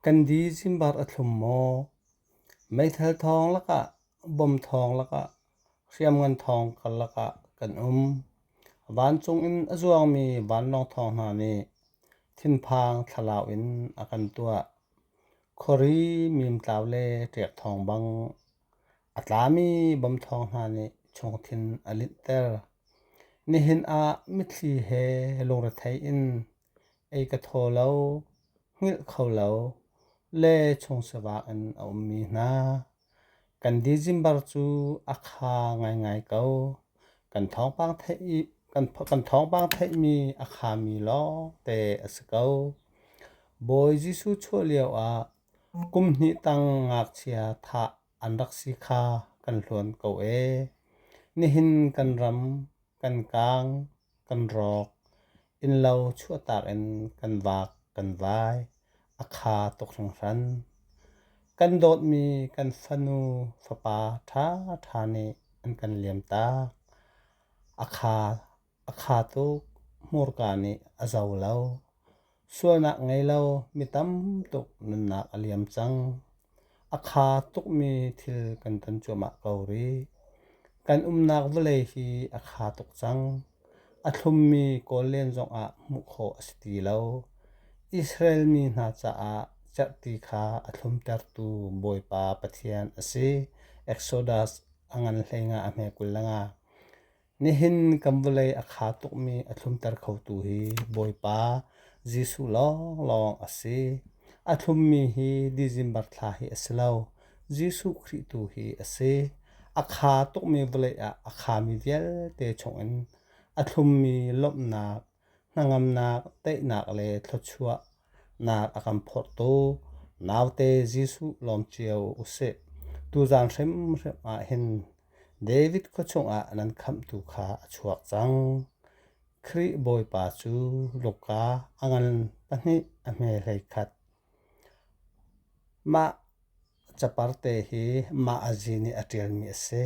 Kandi Zimbar a thlum maw? Meithal thawng lakah, bom thawng lakah, hriamngan thawng kal lakah kan um. Vancung in a zuangmi vanlawng thawng hna nih thinphang thlalau in a kan tuah. Khuari mimtlau le ṭek thawng bang a tlami bom thawng hna nih chungthin a linhter. Nihin ah mitthli he lungrethei in Ei ka thaw lo, hngilh kho lo le chung sivak in a ummi hna. Kan dizimbar cu a kha ngaingai ko. Kan thawngpang theih i kan thawngpang theihmi a khami lawngte a si ko. Bawi Jesuh chuah lioah kum hnih tang ngakchia thah an rak si kha kan hluan ko ee. Nihin kan ram kan kaang. kan rawk. Innlo chuahtak in kan vak kan vai. A kha tuk hringhran. Kan dawtmi kan fanu fapa ṭha ṭha nih an kan liamtak. A kha a kha tuk hmurka nih a zo lo. Sualnak ngei lo mi tam tuk nunnak a liam cang. A kha tukmi thil kan ton cuahmah ko rih. Kan umnak vawlei hi a kha tuk cang. A thlummi kawl len zongah hmuh khawh a si ti lo. Israel mi hna caah cerhti kha a thlumtertu Bawipa Pathian a si. Exodus a ngan hleinga a hme kul lengah Nihin kan vawlei a kha tukmi a thlumter khotu hi Bawipa Jesuh lawnglawng a si. A thlummi hi December thla hi a si lo. Jesuh Khrih tu hi a si. A kha tukmi vawlei ah a khami vialte chungin a thlummi lawmhnak hnangamnak, teinak le thluachuahnak a kan phorhtu naute Jesuh lawm cio usih. Tuzan hrimhrim ah hin David khua chungah nan khamhtu kha a chuak cang. Khrih Bawipa cu Luka a ngan pahnih a hme hlei khat. Mah caparte hi mah a zi nih a ṭialmi a si.